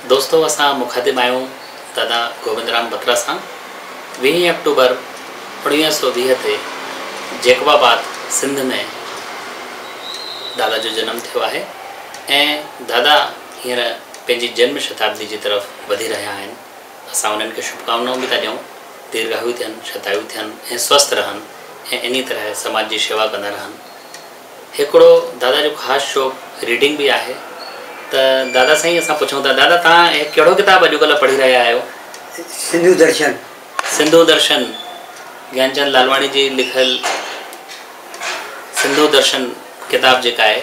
دوستو اسان مخاطب آهيون دادا گوبند رام بترا سان ويهين آڪٽوبر اوڻويهه سؤ ويهه تي جيڪب آباد سنڌ ۾ دادا جو جنم ٿيو آهي ۽ دادا هينئر پنهنجي جنم شتابدي جي طرف وڌي رهيا آهن، اسان انهن کي شڀڪامنائون به ٿا ڏيون، ديرگاهيو ٿين، شتايو ٿين ۽ سوست رهن ۽ انهي طرح سماج جي شيوا ڪندا رهن. هڪڙو دادا جو خاص شوق ريڊنگ به آهي ته دادا سائين اسان پڇون ٿا دادا توهان هي ڪهڙو ڪتاب اڄڪلهه پڙهي رهيا آهيو؟ سنڌو درشن. سنڌو درشن، گيانچند لالواڻي جي لکيل سنڌو درشن ڪتاب جيڪا آهي.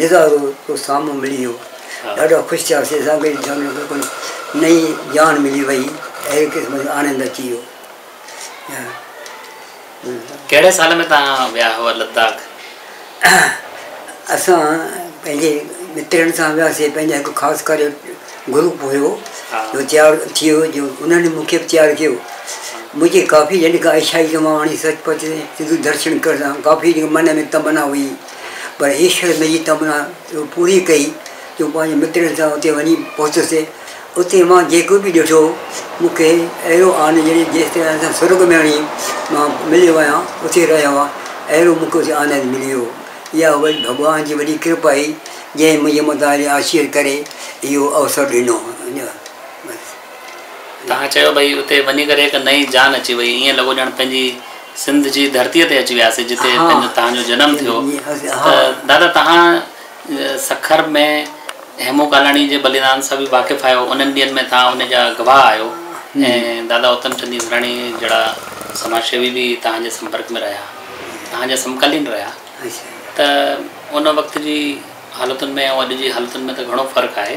نظارو ڪو سامهون ملي ويو. ڏاڍا خوش ٿياسين. اسان کي جان ۾ ڪو نئين جان ملي وئي. اهڙي قسم جو آنند اچي ويو. ڪهڙي سال ۾ توهان ويا هئا لداخ؟ اسان پنهنجي مترن سان وياسين. پنهنجا هڪ خاص ڪري گروپ هيو جو تيار ٿيو جو انهن مون کي به تيار ڪيو. منهنجي ڪافي يعني ڪا عيشائي ڪماوڻي سچ پچ سنڌو درشن ڪرڻ سان ڪافي من ۾ تمنا هئي. پر ايشور منهنجي تمنا اها پوري ڪئي جو مون پنهنجي مترن سان اتي وڃي پهتس. اتي مان جيڪو به ڏٺو، مون کي اهڙو آنند ڄڻي جيئن اسان سان سرڳ ۾ وڃي مان مليو آهيان، اتي رهيو آهيان، اهڙو مون کي اتي آنند ملي ويو. اها وڏي ڀڳوان جي وڏي ڪرپا هئي، جنهن منهنجي متان اهڙي آشيت ڪري اهو اوسر ڏنو. بس. توهان چيو ڀئي اتي وڃي ڪري هڪ نئين جان اچي وئي، ايئن لڳو ڄڻ پنهنجي. سنڌ جي ڌرتيء تي اچي وياسي جتي پنهنجو تهان جو جنم ٿيو ته دادا تهان سکر ۾ هيمون ڪالاڻي جي بليدان سان به واقف آهيو انهن ڏينهن ۾ تهان ان جا گواهه آهيو ۽ دادا اوتم چند ايسراڻي جهڙا سماج سيوي به تهان جي سمپرڪ ۾ رهيا تهان جا سمڪالين رهيا ته ان وقت جي حالتن ۾ ۽ اڄ جي حالتن ۾ ته گهڻو فرق آهي.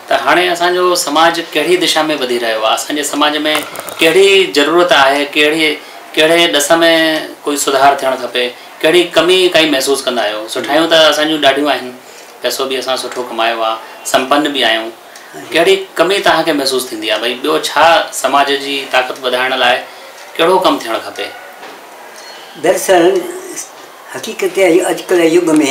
ته هاڻي اسان جو سماج ڪهڙي دشا ۾ وڌي رهيو آهي، اسان جي سماج ۾ ڪهڙي ضرورت آهي، ڪهڙي ڪهڙي ڏس ۾ ڪوئي سڌار ٿيڻ کپي، ڪهڙي ڪمي ڪائي محسوس ڪندا آهيو، سٺايون ته اسان جون ڏاڍيون آهن، پئسو به اسان سٺو ڪمايو آهي، سمپن به آهيون، ڪهڙي ڪمي توهان کي محسوس ٿيندي آهي، ڀئي ٻيو ڇا سماج جي طاقت وڌائڻ لاء ڪهڙو ڪم ٿيڻ کپي؟ دراصل حقيقت اها آهي اڄڪلهه جي يگ ۾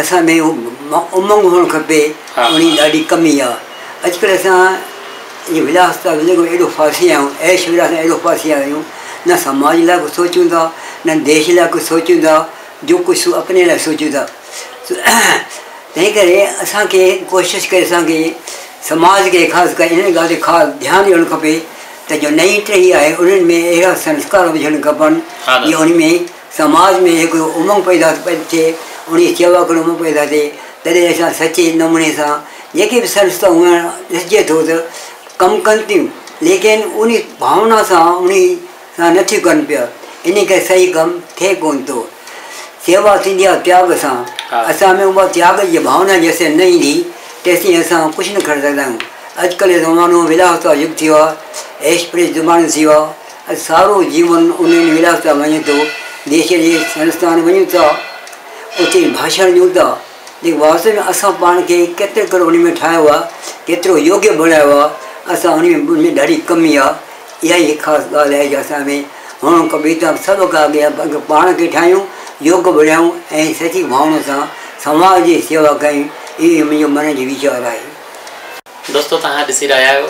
اسان ۾ امنگ هئڻ کپي ان جي ڏاڍي ڪمي آ اڄ ڪلهه اسان جي وڏا اسپتال ۾ ايڏو ڦاسي ويا آهيون عيش ويلاس ۾ ايڏو ڦاسي ويا آهيون نه سماج لاء ڪو سوچون ٿا نه ديش لاء ڪو سوچون ٿا جو ڪجهه اپني لاء سوچون ٿا تنهن ڪري اسان کي ڪوشش ڪري اسان کي سماج کي خاص ڪري ان ڳالهه تي خاص ڌيان ڏيڻ کپي ته جو نئي ٽهي آهي انهن ۾ اهڙا سنسڪار هجڻ کپن جو ان ۾ سماج ۾ هڪڙو امنگ پيدا ٿئي، انهيء شيوا ڪرڻ امنگ پيدا ٿئي، تڏهن اسان سچي نموني سان جيڪي به سنسٿائون هونئن ڏسجي ٿو ته ڪم ڪن ٿيون، ليڪن انهي ڀاونا سان انهي سان نه ٿيون ڪن پيا، انهي ڪري صحيح ڪم ٿئي ڪونه ٿو. شيوا ٿيندي آهي تياڳ سان، اسان ۾ اها تياڳ جي ڀاونا جيسين نه ايندي، تيسين اسان ڪجهه نه ڪري سگهندا آهيون. اڄڪلهه جو زمانو ولاهه وتو يگ ٿيو آهي، عيش پريش زمانو ٿيو آهي. اڄ سارو جيون انهن ولاس ۾ وڃي ٿو. ديس جي سينستان وڃون ٿا، اتي ڀاشڻ ڏيون ٿا، ليڪن واستو ۾ اسان پاڻ کي ڪيترو ڪرو انهي ۾ ٺاهيو آهي، ڪيترو يوگيه بڻايو آهي، اسان انهي ۾ انهي ۾ ڏاڍي ڪمي آهي. اها ئي هڪ خاص ڳالهه آهي جو اسان ۾ هونئن ڪويتا سڀ کان اڳي اڳ پاڻ کي ٺاهيون، يوگ بڻايون ۽ سچي ڀاونا سان سماج جي سيوا ڪيون، اهو ئي منهنجو من جي ويچار آهي. دوستو توهان ڏسي رهيا آهيو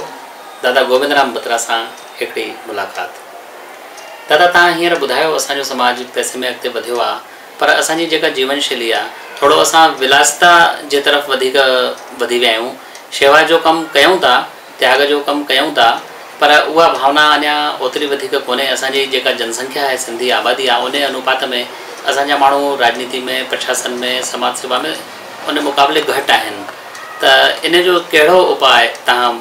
دادا گوبند رام بترا سان هڪڙي ملاقات. دادا توهان هينئر ٻڌايو اسان جو سماج پئسي ۾ اڳتي وڌيو آ پر اسان جي جيڪا جيون شيلي آ ٿورو اسان ولاستا جي طرف وڌيڪ وڌي ويا آهيون شيوا جو ڪم ڪيون ٿا تياڳ جو ڪم ڪيون ٿا پر اها ڀاونا اڃا اوتري وڌيڪ ڪونهي اسان جي جيڪا جن سنکيا آهي سنڌي آبادي آ انهي انوپات ۾ اسان جا ماڻهو راڄنيتي ۾ پرشاسن ۾ سماج سيوا ۾ انهي مقابلي گهٽ آهن ته انهي جو ڪهڙو اپاء توهان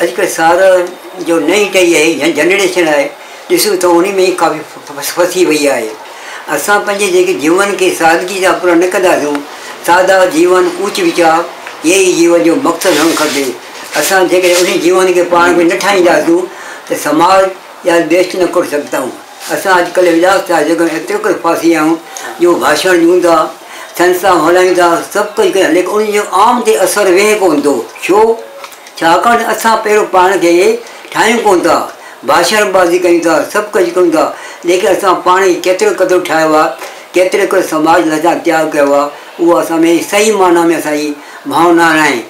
اڄ ڪلهه سارن جو نئين ٽهي آهي يا جنريشن آهي ڏسون ته انهي ۾ ئي ڪافي ڦسي وئي آهي. اسان پنهنجي جيڪي جيون کي سادگي سان پورا نه ڪنداسون، سادا جيون، اوچ ويچار، اهي ئي جيون جو مقصد هئڻ کپي. اسان جيڪڏهن انهي جيون کي پاڻ ۾ نه ٺاهينداسون ته سماج يا ديش نه ڪري سگهندائون. اسان اڄڪلهه اجلاس ٿيا جيڪڏهن ايترو ڪري ڦاسي آهيون جو ڀاشڻ ڏيون ٿا، سنسٿائون هلائين ٿا، سڀ ڪجهه ڪريون ٿا ليڪن انهن جو عام تي اثر ويهي ڪونه ٿو. ڇو؟ ڇاڪاڻ ته اسان پهريون پاڻ کي ٺاهيون ڪونه ٿا، ڀاشڻ بازي ڪيون ٿا، سڀ ڪجهه ڪيون ٿا ليڪن اسان پاڻ کي ڪيترو قدر ٺاهيو آهي، ڪيترو ڪري سماج لاء اسان تياڳ ڪيو آهي اهو اسان ۾ صحيح معنيٰ ۾ اسان جي ڀانو نه آهي.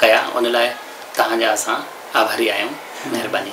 ڪيا ان لاء توهان جا اسان آڀاري آهيون مهرباني.